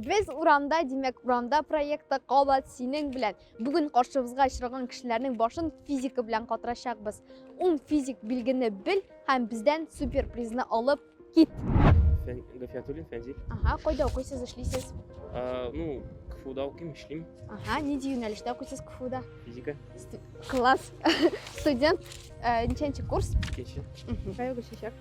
Без урамда, димәк, урамда проекты кабат синең белән. Бүген каршыбызга очраган кешеләрнең башын физика белән катырачакбыз. Ун физик билгене бел һәм бездән суперпризны алып кит. Фән Гафиятуллин Фәнзил. Ага, кайда укыйсыз, эшлисез? А, ну, КФУда укыйм, эшлим. Ага, нинди юнәлештә укыйсыз КФУда? Физика. Класс. Студент, э, ничәнче курс? Икенче. Кая күчәчәк?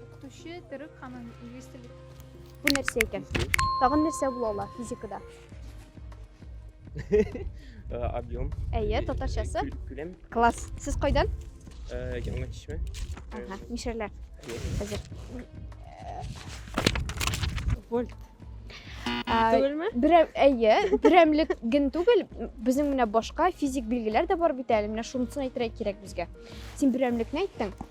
Укытучы төрек һәм инглиз теле. Бу нәрсә икән? Тагын нәрсә була ала физикада? Э, объем. Әйе, татарчасы. Күләм. Класс. Сез кайдан? Э, Яңа чишмә. Ага, мишәрләр. Хәзер. Вольт. Түгелме? Берәм, әйе, берәмлек ген түгел, безнең менә башка физик билгеләр дә бар бит әле, менә шунысын әйтергә кирәк безгә. Син берәмлекне әйттең,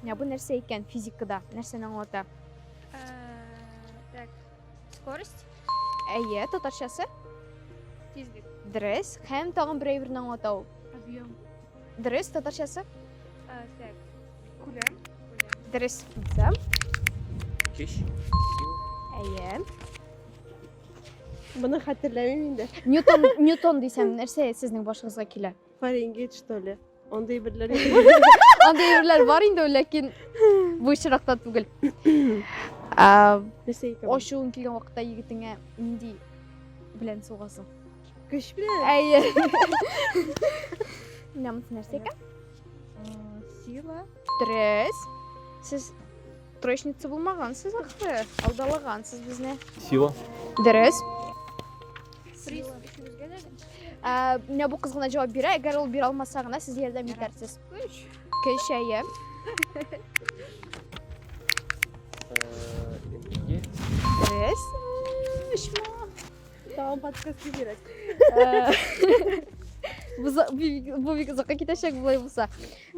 Менә бу нәрсә икән физикада? Нәрсәне аңлата? Э, так, скорость. Әйе, татарчасы? Тизлек. Дөрес. Һәм тагын бер әйберне аңлата ул. Объем. Дөрес, татарчасы? Э, так, күләм. Дөрес. Күләм. Кеш. Әйе. Моны хәтерләмим инде. Ньютон, Ньютон дисәм, нәрсә сезнең башыгызга килә? Фаренгейт, что ли? Андый берләр Андый берләр бар инде, ләкин бу очракта түгел. Ошуын килгән вакытта егетеңә нинди белән сугасың? Көч белән? Әйе. Намыс нәрсә икән? Сила. Трес. Сез трешница булмагансыз ахры. Алдалагансыз безне. Сила. Дөрес. Сила. Ә, менә бу кыз гына җавап бирә, әгәр ул бирә алмаса гына сез ярдәм итәрсез. Көй чәе. Дөрес. Ишма. Тагын подкаст кирәк. Бу за- бу- бу бик озакка китәчәк болай булса.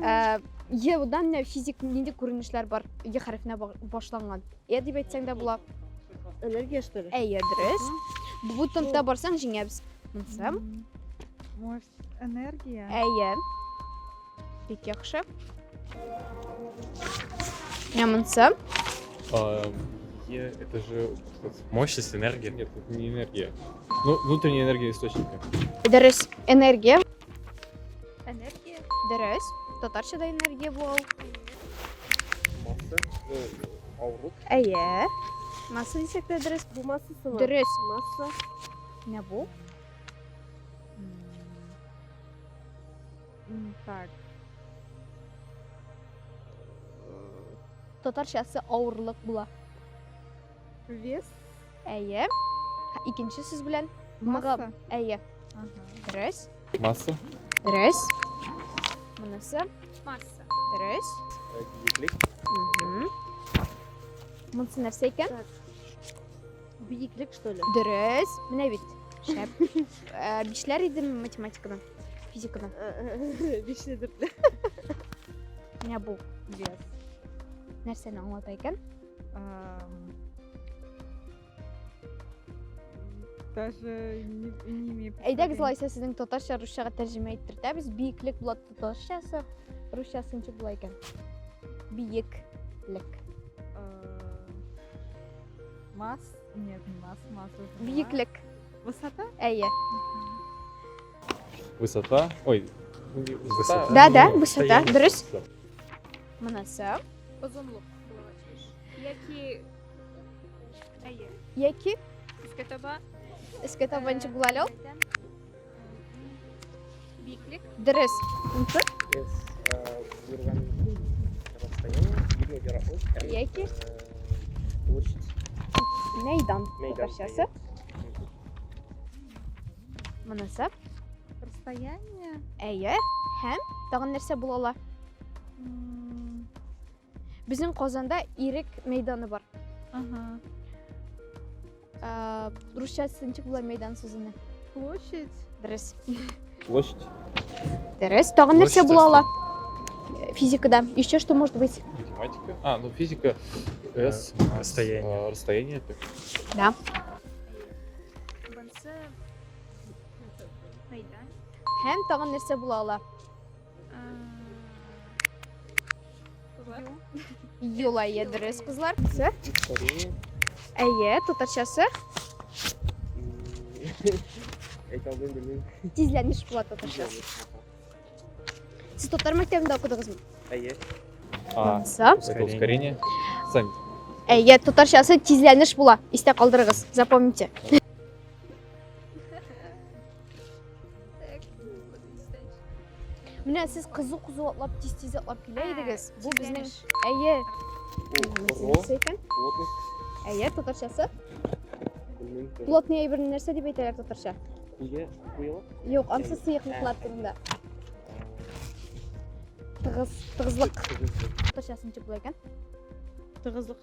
Ә, Е-дан менә физик нинди күренешләр бар? Е хәрефенә ба- башланган. Е дип әйтсәң дә була. Энергия что ли? Әйе, дөрес. Бу тунтта барсаң җиңәбез. Монсы. Может, энергия? Әйе. Бик яхшы. Менә монсы. А, Е, это же мощность, энергия. Нет, это не энергия. Ну, внутренняя энергия источника. Дөрес. Энергия. Энергия. Дөрес. Татарча да энергия бу ул. Масса. Авырлык. Әйе. Масса дисәк тә дөрес. Бу массасы ма? Дөрес. Масса. Менә бу. Так. Татарчасы авырлык була. Вес. Әйе. Икенче сүз белән. Масса. Әйе. Дөрес. Масса. Дөрес. Монысы. Масса. Дөрес. Биеклек. Монысы нәрсә икән? Биеклек, что ли? Дөрес. Менә бит. Шәп. Э, Бишләр идем математиканы, физиканы. Бишле дүртле. Менә бу. Вес. Нәрсәне аңлата икән? даже не, не имею Әйдәгез лайса сезнең татарча русчага тәрҗемә иттердәбез. Биеклек була татарчасы, русчасы ничек була икән? Биеклек. Мас? Нет, не мас, мас. Биеклек. Высота? Әйе. Высота. Ой. Высота. Да, да, высота. Дөрес. Монасы. Озынлык. Яки Әйе. Яки искә таба искә таба ничек була әле ул? Биеклек. Дөрес. Яки площадь. Мәйдан. Мәйдан. Татарчасы. Мөнәсәп. Расстояние. Әйе. Һәм тагын нәрсә була ала? Безнең Казанда Ирек мәйданы бар. Ага. Ә, русча сынчык була мәйдан сүзенә. Площадь. Дөрес. Площадь. Дөрес. Тагын нәрсә Площадь була ала? Физикада. Еще что может быть? Математика. А, ну физика. Э, С. расстояние. э, Расстояние. так. Да. Һәм тагын нәрсә була ала? Юла є дырыс кызлар. Кызы? Әйе, татарчасы. Әйтә алмыйм, белмим. Тизләнеш була татарчасы. Сез татар мәктәбендә укыдыгызмы? Әйе. А, Са? это ускорение. Сами. Әйе, татарчасы тизләнеш була. Истә калдырыгыз, запомните. Менә сез кызу-кызу атлап, тиз-тиз атлап килә идегез. Бу безнең әйе. Әйе, татарчасы. Плотный әйберне нәрсә дип әйтәләр татарча? Куе, куелык? Юк, ансы сыйыклыклар турында. Тыгыз, тыгызлык. Татарчасы ничек була икән? Тыгызлык.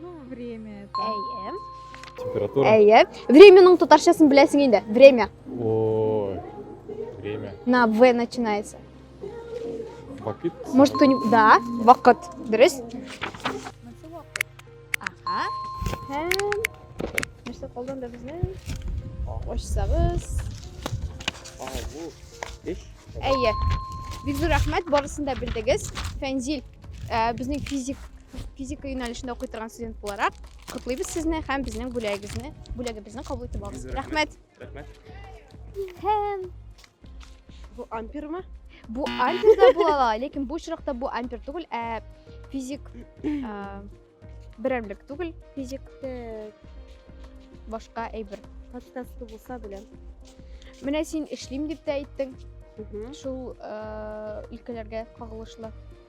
Ну, время это. Әйе. Температура. Әйе. Времяның татарчасын беләсең инде. Время. Ой. Время. На В начинается. Вакыт. Может, кто-нибудь... Да, вакыт. Дөрес. Ага. Һәм... Нәрсә калдан да безнең? Ачсагыз. Алу. Эш. Әйе. Бик зур рәхмәт, барысын да белдегез. Фәнзил, э, безнең физик Физика юнәлешендә укый торган студент буларак, котлыйбыз сезне һәм безнең бүләгегезне, бүләгебезне кабул итеп алыгыз. Рәхмәт. Рәхмәт. Һәм бу ампермы? Бу ампер да була ала, ләкин бу очракта бу ампер түгел, ә физик а, берәмлек түгел, физик Тек, башка әйбер. подкасты булса беләм. Менә син эшлим дип тә әйттең, Мгм. шул а, өлкәләргә кагылышлы.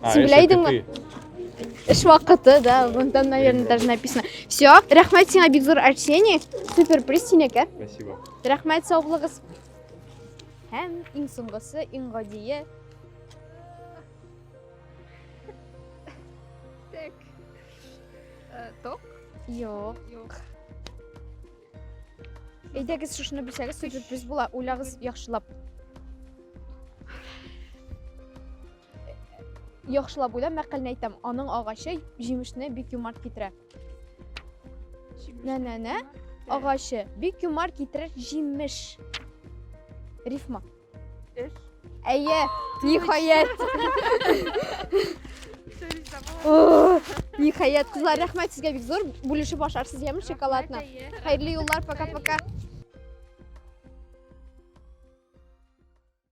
А, Син эш беләйдеңме? итү. Эш вакыты, да, вон там, наверное, даже написано. Все, рәхмәт сиңа бик зур Арсений. Супер приз синеке. Спасибо. Рәхмәт, сау булыгыз. Һәм иң соңгысы, иң гадие. Так. Э, Ток? Юк. Юк. Әйдәгез шушыны белсәгез, супер приз була. Уйлагыз яхшылап. Яхшылап уйлап мәкалне әйтәм. Аның агачы җимешне бик юмарт китерә. Нә-нә-нә, агачы бик юмарт китерер җимеш. Рифма. Эш. Әйе, ниһаять. Ниһаять, кызлар, рәхмәт сезгә бик зур. Бүлешеп ашарсыз яме шоколадны. Хәерле юллар, пока-пока.